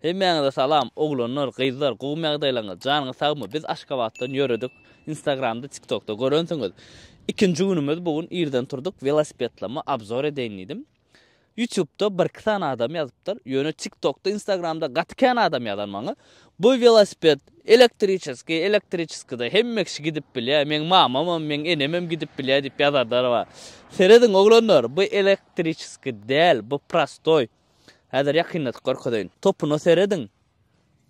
Hemmäňize salam oglanlar gyzlar gowymy ýagdaýlaryňyz janyňyz sagmy biz Aşgabatdan ýöredik instagramda tiktokda görensiňiz ikinji günümiz bu gün irden turdyk welosipedlama abzor edeýin diýdim ýutubda birki sany adam ýazypdyr ýöne tiktokda instagramda gaty kän adam ýazan maňa bu welosiped elektriçeskiý elektriçeskide hemme kişi gidip bilýär meň mamamam meň enemem gidip bilýär diýip ýazarlar bar serediň oglanlar bu elektriçeskiý däl bu prostoý Häzir ýakynlatyp görkezeýin. Topuna serediň.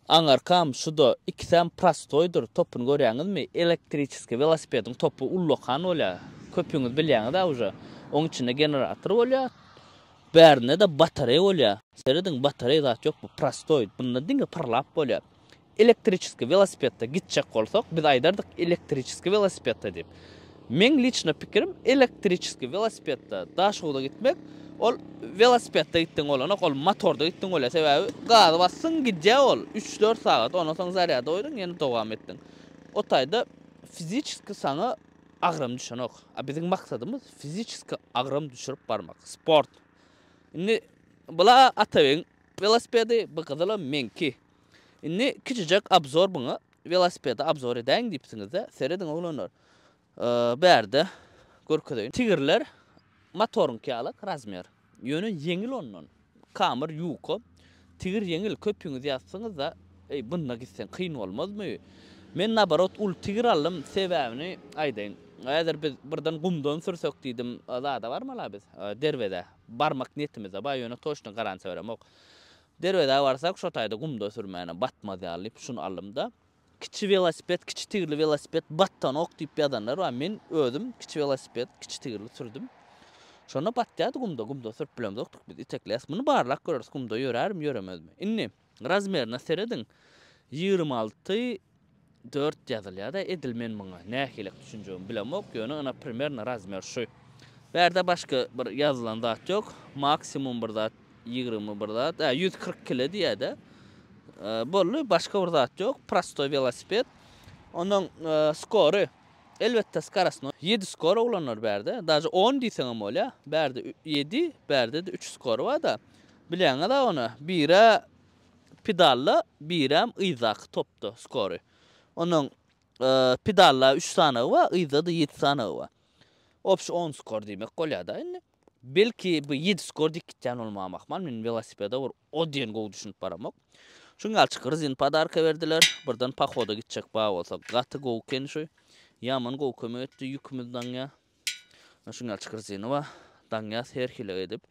Aňarkam, şu-da, ikisem prostoýdyr. Topyny görýäňizmi? Elektriçeskiý welosipediň topy ullakan bolýar. Köpüňiz bilýäňiz-ä uje. Oň içinde generator bolýar. Bärinde-de batareý bolýar. Serediň, batareý zat ýok, bu prostoý. Bunda diňe pyrlap bolýar. Elektriçeskiý welosipedde gitjek bolsak, biz aýdardyk elektriçeskiý welosipedde diýip. Meň liçno pikirim, elektriçeskiý welosipedde Daşogza gitmek, ol welosipedde gitdigiň bolanok, ol motorda gitdigiň bolýar. Sebäbi gazy basdyň, gidýär ol, üç-dört sagat, ondan soň zarýada goýduň, ýene dowam etdiň. O taýda fiziçeski saňa agram düşenok. A biziň maksadymyz fiziçeski agram düşürip barmak, sport. Indi bula Atabegiň welosipedi, bu gyzylam meňki. Indi kiçijek obzor buňa welosipedi obzor edäýiň diýipsiňizde serediň oglanlar bärde görkezeýin tigirler motoryňky ýalak razmer ýöne ýeňil ondan kamr ýuka tigir ýeňil köpüňiz ýazsyňyzda eý bunda gitseň kyn bolmazmy men naborot uly tigir aldym sebäbini aýdaýyn häzir biz birden gumdan sürsek diýdim zada barmala biz derwezä barmak niýetimizde bar ýöne toçna garantiýa beremok Derwezä barsak, şo taýda gumda sürmäne batmaz ýaly diýip şuny aldym-da, Kiçi welosiped, kiçi tigirli welosiped batdanok diýip ýazanlar bar, men özüm kiçi welosiped, kiçi tigirli sürdüm. Şonda batýardy gumda, gumda sürüp bilemzokdyk biz, itekleýäs, muny barlap göreris, gumda ýörärmi, ýöremezmi. Indi razmerine serediň, ýigrimi alty, Dört ýazylýada edil men muňa nähilek düşünjegimi bilemok ýöne ina primerno razmer şu. Bärde başga bir ýazylan zat ýok. Maksimum bir zat ýigrimi bir zat a ýüz kyrk kile diýýädä. Boldy başga bir zat ýok. Prostoý welosiped. Onuň skory elbetde skarasno ýedi skor oglanlar bärde daže on diýseňem bolýa bärde ýedi bärdede üç skory barda bilýäňiza ony bire Pidalla birem yzdaky topda skory. Onuň pidalla üç sanagy bar, yzda-da ýedi sanagy bar. Obşi on skor diýmek bolýar-da indi. Belki bu ýedi skor dik gitýän bolmagam ahmal, men welosipede bir o diýen gowy düşünip baramok. Şuň ýaly çykyr rezin podarka berdiler. Birden pohoda gitjek bar bolsa gaty gowy ekeni şu. Ýaman gowy kömek etdi, ýükümiz daňýar. Ine şuň ýaly Çykyrjynowa daňýas her hile edip,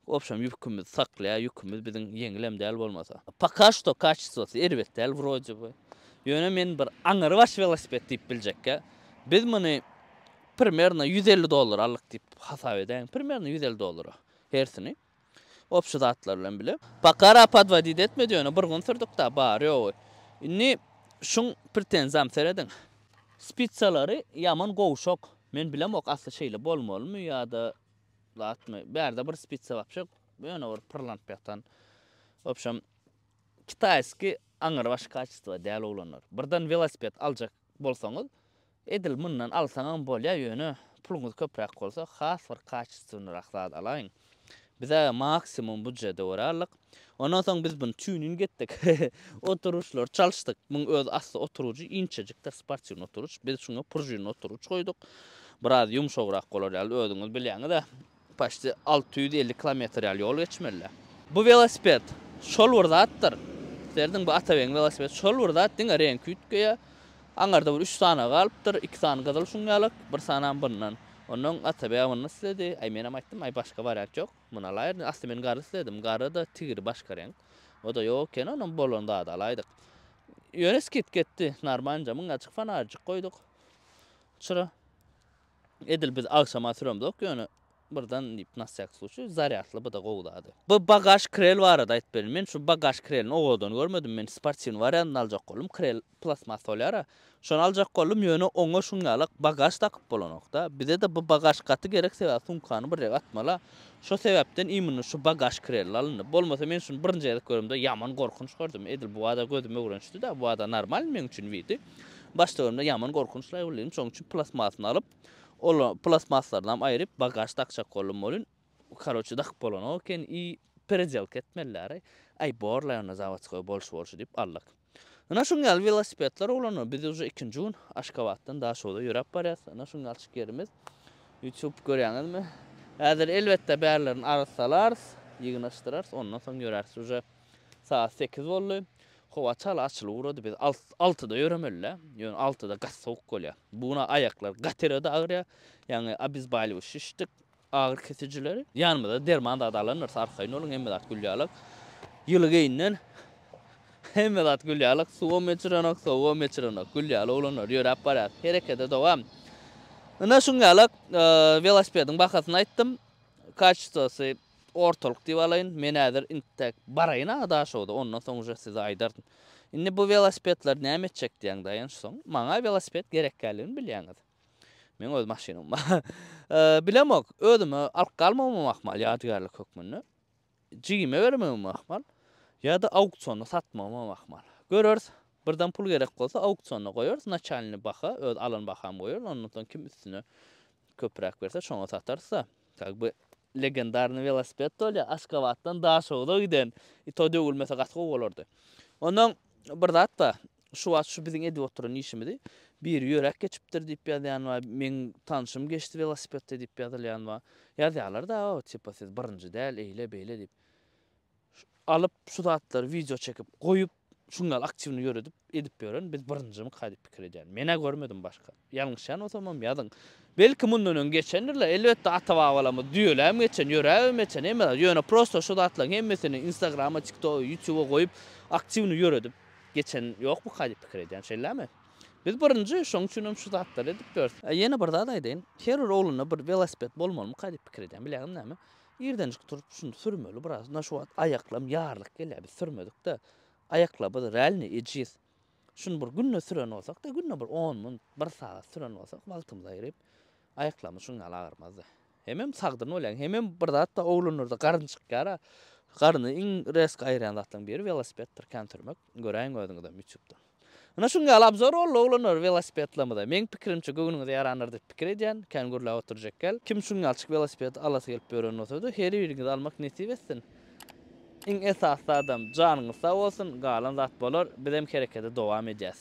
obşam ýükümizi saklaýar, ýükümiz biziň ýeňilem däl bolmasa. Poka şto kaçestwosy erbet däl wroje by. Ýöne men bir aňrybaş welosiped diýip biljekkä, biz muny primerno ýüz elli dollara aldyk diýip hasap edäýiň, primerno ýüz elli dollara hersini. Op şu zatlar bilen bile. Pakara podwodit etmedi ýöne bir gün sürdükda bary ýogy. Indi şuň pretenzam serediň. Spitsalary ýaman gowşak. Men bilemok asly şeýle bolmalymy ýada zatmy. Bärde bir spitsa wapşe ýöne bir pyrlanyp ýatan. Wapşem kitaýski aňyrbaş kaçestwo däl oglanlar. Birden welosiped aljak bolsaňyz Edil mundan alsaňam bolýa ýöne puluňyz köpräk bolsa has bir kaçestwnyrak zat alaýyň. Bizä maksimum budjete görä aldyk. Ondan soň biz buny tuning etdik. Oturyşlary çalyşdyk. Muň öz asty oturujy inçejikdir sportiwny oturyş. Biz şuňa prujinli oturyş goýduk. Biraz ýumşagrak bolar ýaly özüňiz bilýäňizä. Paçti alty ýüz elli kilometr ýaly ýol geçmelidä. Bu welosiped şol bir zatdyr. Serediň bu Atabegiň welosipedi şol bir zat, diňe reňki üýtgeýä. Aňarda bir üç sany galypdyr, iki sany gyzyl şuň ýalak, bir sanam bundan. Onnoň Atabeg munny isledi. Aý menem aýtdym, aý başga wariant ýok, muny alaýr diýdim. Asly men gara isledim, gara-da tigri başga reňk. O-da ýok ekeni, onnoň bolan zady alaýdyk. Ýöne skidka etdi, narmanca, müň gaçyk fanarjyk goýduk çyra. Edil biz agşama süremzok ýöne birden diýip nasýak suçi zarýadly bu-da gowy zady. Bu bagaž krel barada aýtyp berin. Men şu bagaž krelini owadan görmedim. Men sportiwny wariantyny aljak boldum. Krel plastmas bolýar-a. Şony aljak boldum, ýöne oňa şuň ýalak bagaž dakyp bolanok-da. Bize-de bu bagaž gaty gerek sebäbi sumkany bir ýere atmaly-a. Şo sebäpden imynny şu bagaž krelli alyndy. Bolmasa men şuny birinji gezek göremde ýaman gorkunç gördüm. Edil bu bada gözüm öwrenişdi-dä. Bu bada normalny meň üçin widi. Baş töwerimde ýaman gorkunç laý bolýan, şoň üçin plastmasyny alyp, ol plastmaslaryny aýryp bagaž dakjak boldum welin, karoçe dakyp bolanok eken i peredelka etmeliläri, aý bor laý onda zawodskoý bolşy bolşy diýip aldyk. Ynha şuň ýaly welosipedler ulanylýar, biz uje ikinji gün Aşgabatdan Daşoguza ýöräp barýas, ynha şuň ýalçyk ýerimiz, ýutup görýäňizmi, häzir elbetde bärlerini arassalarys, ýygnaşdyrarys, ondan soň ýöräris uje. Sagat sekiz boldy. Howa çala açylyp ugrady. Biz altyda ýöremeli-dä. Ýöne altyda gaty sowuk bolýar. Bu gün aýaklar gatyra-da agyrýar. Ýaňy obezbaliwuş içdik, agyry kesijileri. Ýanymyzda derman zady alandyrs, arkaýyn boluň, hemme zat gülýalak. Ýyly geýinden hemme zat gülýalak. Suwam eçirenok, sowugam eçirenok. Gülýaly oglanlar, ýöräp barýas. Herekete dowam. Ynha şuň ýalak, welosipediň bahasyny aýtdym. Kaçitosy Ortalyk diýip alaýyn. Men häzir intek baraýyn aňa Daşogda, ondan soň uje size aýdaryn. Indi bu welosipedleri näme etjek diýýäň daýanç soň. Maňa welosiped gerekkäligini bilýäňiz. Meň öz maşynam bar. Bilemok, özüme alyp galmagymam ahmal ýadygärlik hökmünde. Jigime bermegimem ahmal. Ýa-da auksionda satmagymam ahmal. Göreris. Birden pul gerek bolsa, auksionda goýarys, naçalnyý baha, öz alan bahamy goýarys, ondan soň kim üstüne köpräk berse, şoňa satarys-da. Как бы legendarnyý welosiped bolýa Askabatdan Daşoguza giden i to döwülmese gaty gowy bolardy. Ondan bir zat bar şu wagt şu biziň edip oturan işimizi biri ýöräp geçipdir diýip ýazýan bar meň tanşym geçdi welosipedde diýip ýazylýan bar ýazýalar da tipa siz birinji däl eýle beýle diýip. alyp şu zatlary wideo çekip goýup şuň ýaly aktiwny ýöredip edip ýören biz birinjimika diýip pikir edýän menä görmedim başga ýalňyşýan bolsamam ýazyň belki mundan öň geçendirler elbetde ata babalarymyz düýeläm geçen ýöräbem geçen emma ýöne prosto şu zatlaryň hemmesini instagrama tiktoga ýutuba goýup aktiwny ýöredip geçen ýokmyka diýip pikir edýän şeýlämi biz birinji şoň üçinem şu zatlary edip ýörüs. Ýene bir zat aýdaýyn her bir oglunda bir welosiped bolmalymyka diýip pikir edýän bilýäňiz näme Irdenjik turup şuny sürmeli biraz na şu wagt aýaklam ýarlyk gelýär biz sürmedikde aýaklabys realny ejiz şuny bir günde süren bolsakda günde bir on minut bir sagat süren bolsak wagtymyz aýryp aýaklamys şuň ýaly agyrmazdy hemem sagdyn bolýaň hemem bir zatda oglanlarda garyn çykýara garyny iň resk aýyrýan zatlaň biri welosipeddir kän sürmek. Göräýiň özüňizem ýutup-da. Ynha şuň ýaly abzor boldy oglanlar welosipedlamyza. Meň pikirimçe göwnüňize ýarandyr diýip pikir edýän. Kän gürläp oturjak gel. Kim şuň ýalçyk welosipedi alasy gelip ýören bolsada her biriňize almak nesip etsin. Iň esasy zadam janyňyz sag bolsun galan zat bolar bizem herekede dowam edýäs.